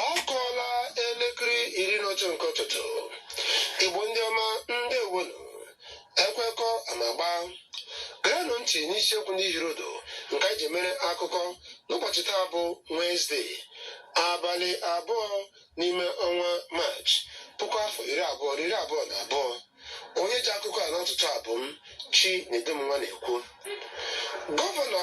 ọ kụọla elekere iri na otu nke ụtụtụ igbo ndị ọma ndewonụ ekwekọ amagba gerenụ ntị n'isiokwu ndị hiri ụdụ nke anyị ji mere akụkọ n'ụbọchị taa bụ Wenesde abalị abụọ n'ime ọnwa maachị puku afọ iri abụọ na iri abụọ na abụọ onye ji akụkọ a n'ụtụtụ a bụ m Chinedum Nwanekwu gọvanọ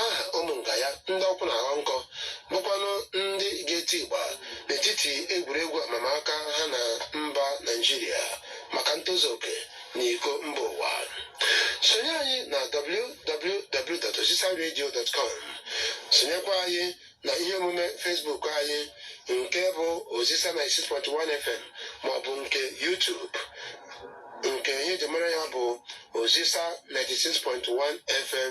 aha ụmụ nga ya ndị ụkwụ na-aghọ nkọ bụkwanụ ndị ga-eti ịgba n'etiti egwuregwu amamaka ha na mba naijiria maka ntozu oke na iko mba ụwa sonye anyị na www.osisaradio.com sonyekwa anyị na ihe omume Facebook anyị nke bụ Osisa 96.1 FM maọbụ nke YouTube nke ihe eji mara ya bụ Osisa 96.1 FM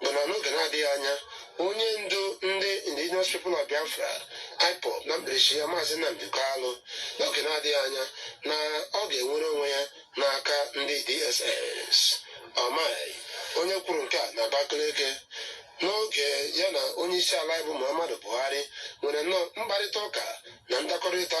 bụ na n'oge na-adịghị anya onye ndu ndị indigenous people of biafra ipob na mkpirisi ya maazị nnamdi kalụ n'oge na-adịghị anya na ọ ga-enwere onwe ya n'aka ndị dss umahi onye kwuru nke a na abakaliki n'oge ya na onye isi ala bụ muhammadu buhari nwere nnọọ mkparịta ụka na ndakọrịta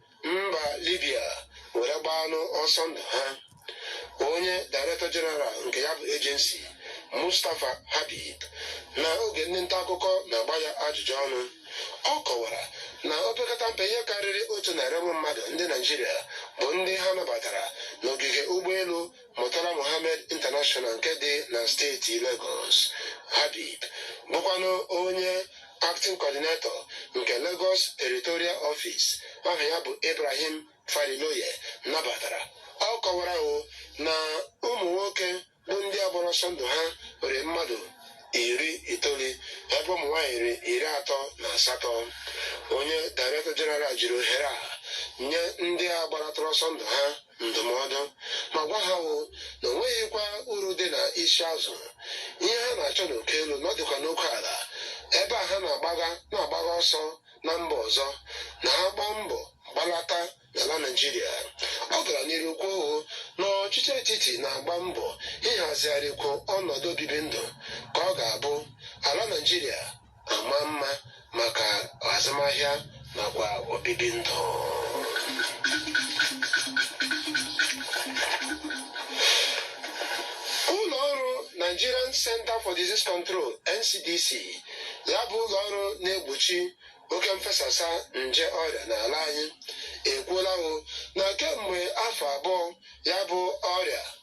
mba libya were gbaanụ ọsọ ndụ ha onye director general nke ya bụ agency mustapha habib na oge ndị nta akụkọ na-agba ya ajụjụ ọnụ ọ kọwara na opekata mpe ihe karịrị otu narị ụmụ mmadụ ndị naijiria bụ ndị ha nabatara n'ogige ụgbọelu Murtala Mohammed International nke dị na steeti Lagos, Habib, bụkwanụ onye acting coordinator nke Lagos Territorial Office aha ya bụ Ibrahim Farinloye nabatara ọ kọwara o na ụmụ nwoke bụ ndị a gbara ọsọ ndụ ha nwere mmadụ iri itoolu ebe ụmụ nwaanyị rị iri atọ na asatọ onye director general jiri ohere a nye ndị a gbaratara ọsọ ndụ ha ndụmọdụ ma gwa ha wụ na o nweghịkwa uru dị na isi azụ ihe ha na-achọ n'uko elu na ọ dịkwa n'uko ala ebe a ha na-agbaga na-agbaga ọsọ na mba ọzọ na ha gbaa mbọ gbalata n'ala naijiria ọ gara n'iru kwuo hụ na ọchịchị etiti na-agba mbọ ịhazigharịkwu ọnọdụ obibi ndụ ka ọ ga-abụ ala naijiria amaa mma maka azụmahịa nakwa obibi ndụ ụlọ ọrụ Nigerian Center for Disease Control NCDC ya bụ ụlọ ọrụ na-egbochi oke mfesasa nje ọrịa n'ala anyị ekwuola o na kemgbe afọ abụọ ya bụ ọrịa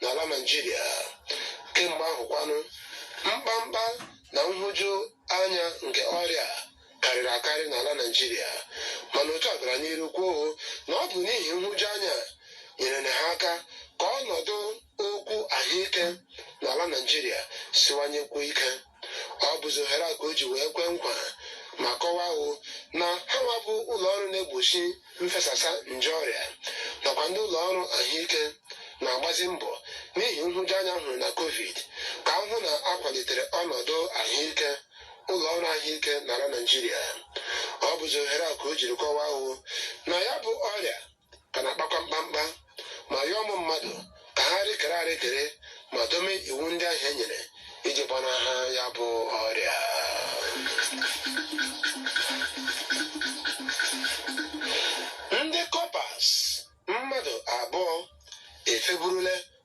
n'ala Naijiria kemgbe ahụ kwanụ mkpamkpa na nhụju anya nke ọrịa karịrị akarị n'ala Naijiria mana otu a gara n'iru kwuo na ọ bụ n'ihi nhụju anya nyere ha aka ka ọnọdụ okwu ahụike n'ala Naijiria siwanyekwuo ike ọ bụzi ohere a ka o ji wee kwee nkwa ma kọwahụ na ha nwa bụ ụlọ ọrụ na-egbochi mfesasa nje ọrịa nakwa ndị ụlọ ọrụ ahụike na-agbazi mbọ n'ihi nhụjuanya a hụrụ na covid ka a hụ na a kwalitere ọnọdụ ahụike ụlọ ọrụ ahụike n'ala naijiria ọ bụzi ohere a ka o jiri kọwahụ na ya bụ ọrịa ka na-akpakwa mkpamkpa ma yọọ ụmụ mmadụ ka ha rịkere arịkere ma dome iwu ndị ahụ e nyere iji gbanahụ ya bụ ọrịa ndị kọpas mmadụ abụọ efeburule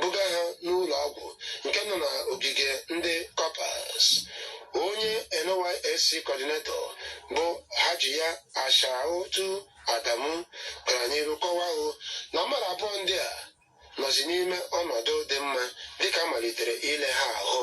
buga ha n'ụlọ ọgwụ nke nọ na ogige ndị kọpas onye nysc coordinator bụ hajiya aishatu adamu gara n'iru kọwahụ na mmadụ abụọ ndị a nọzi n'ime ọnọdụ dị mma dịka a malitere ile ha ahụ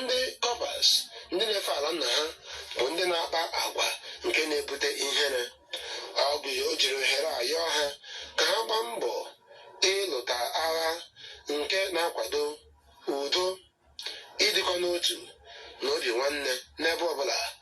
ndị kọpas ndị na-efe ala nna ha bụ ndị na-akpa agwa nke na-ebute ihere ọ bụ ya o jiri ohere a yọọ ha ka ha gbaa mbọ ịlụta agha nke na-akwado udo ịdịkọ n'otu na obi nwanne n'ebe ọbụla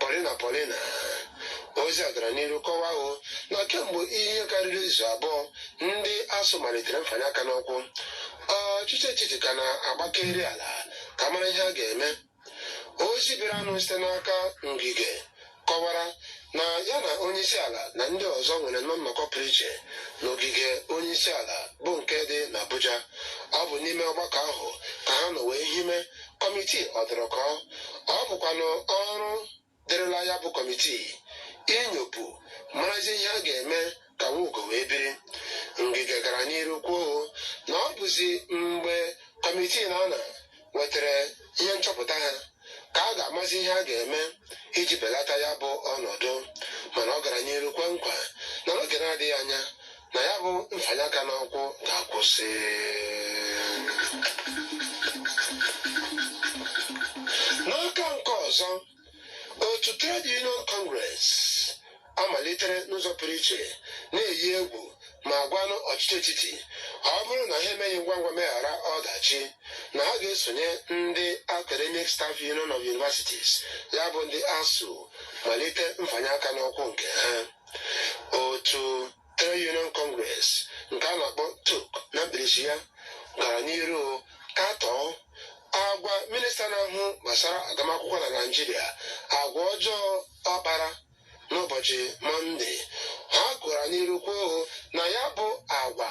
Paulina Paulina ozi a gara n'iru kọwahụ na kemgbe ihe karịrị izu abụọ ndị ASUU malitere mfanye aka n'ụkwụ ọchịchị etiti ka na-agbakeri ala ka a mara ihe a ga-eme ozi bịaranụ site n'aka ngige kọwara na ya na onye isi ala na ndị ọzọ nwerenụ nnọkọ pụrụ iche n'ogige onye isi ala bụ nke dị n'Abuja ọ bụ n'ime ọgbakọ ahụ ka ha nọ wee hime kọmitii ọdụrụkọ ọ bụkwanụ ọrụ dịrịla ya bụ kọmitii inyopụ marazi ihe a ga-eme ka nwugo wee biri ngige gara n'iru kwuo na ọ bụzi mgbe kọmitii na ana nwetara ihe nchọpụta ha ka a ga-amazi ihe a ga-eme iji belata ya bụ ọnọdụ mana ọ gara n'iru kwe nkwa na n'oge na-adịghị anya na ya bụ mfanye aka n'ụkwụ ga-akwụsị n'aka nke ọzọ otu trade union congress amalitere n'ụzọ pụrụ iche na-eyi egwu ma gwanụ ọchịchị etiti ọ bụrụ na ha emeghị ngwa ngwa meghara ọdachi na ha ga-esonye ndị academic staff union of universities ya bụ ndị asuu malite mfanye aka n'ụkwụ nke ha otu Trade Union Congress nke a na-akpọ TUC na mkpirisi ya gara n'iru katọọ agwa minista na-ahụ gbasara agụmakwụkwọ na naijiria agwa ọjọọ ọ kpara n'ụbọchị mọnde ha gara n'iru kwuo na ya bụ agwa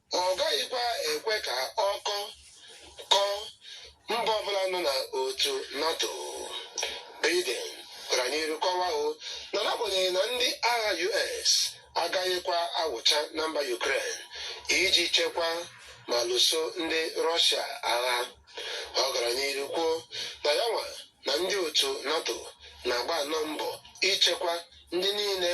Ọ gaghịkwa ekwe ka ọkọ kọọ mba ọbụla nọ na otu NATO. Biden gara n'iru kọwaa o na n'agbanyeghị na ndị agha US agaghịkwa awụcha na mba Ukraine iji chekwa ma lụso ndị Rọshia agha. Ọ gara n'iru kwuo na ya nwa na ndị otu NATO na-agba nnọọ mbọ ichekwa ndị niile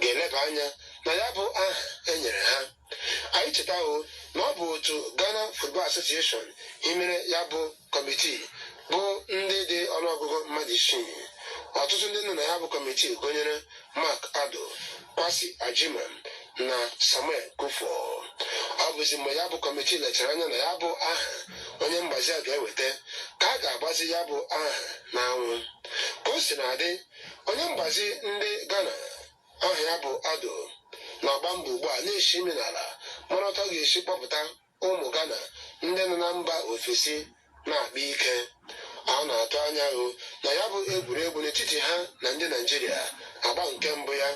ga-eleba anya na ya bụ aha e nyere ha anyị chetawo na ọ bụ otu Ghana Football Association hiwere ya bụ kọmitii bụ ndị dị ọnụọgụgụ mmadụ isii ọtụtụ ndị nọ na ya bụ kọmitii gụnyere Mark Addo Kwasi Agyemang na Samuel Kuffour ọ bụzi mgbe ya bụ kọmitii lechara anya na ya bụ aha onye mgbazi a ga-eweta ka a ga-agbazi ya bụ aha n'anwụ ka o sina dị onye mgbazi ndị Ghana aha ya bụ Addo na-agba mbọ ugbu a na-esi imi n'ala mara otu ọ ga-esi kpọpụta ụmụ Ghana ndị nọ na mba ofesi na-akpa ike a na-atụ anya hụ na ya bụ egwuregwu n'etiti ha na ndị Naijiria agba nke mbụ ya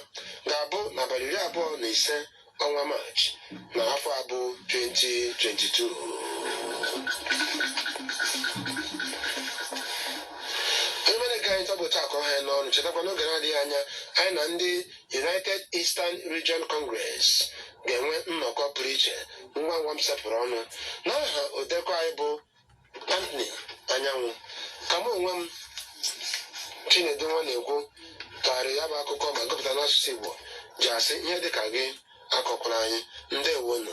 ga-abụ n'abalị iri abụọ na ise ọnwa Maachị n'afọ a bụ 2022 emere ka anyị tọbụta akọ ha n'ọnụ chetakwa n'oge na-adịghị anya anyị na ndị United Eastern Region Congress ga-enwe nnọkọ pụrụ iche ngwa ngwa m sepụrụ ọnụ n'aha odeakụkọ anyị bụ Anthony Anyanwụ ka mụ onwe m Chinedu Nwanaekwu tụgharịrị ya bụ akụkọ ma gụpụta n'asụsụ Igbo ji asị ihe dịka gị akọkwala anyị ndewonu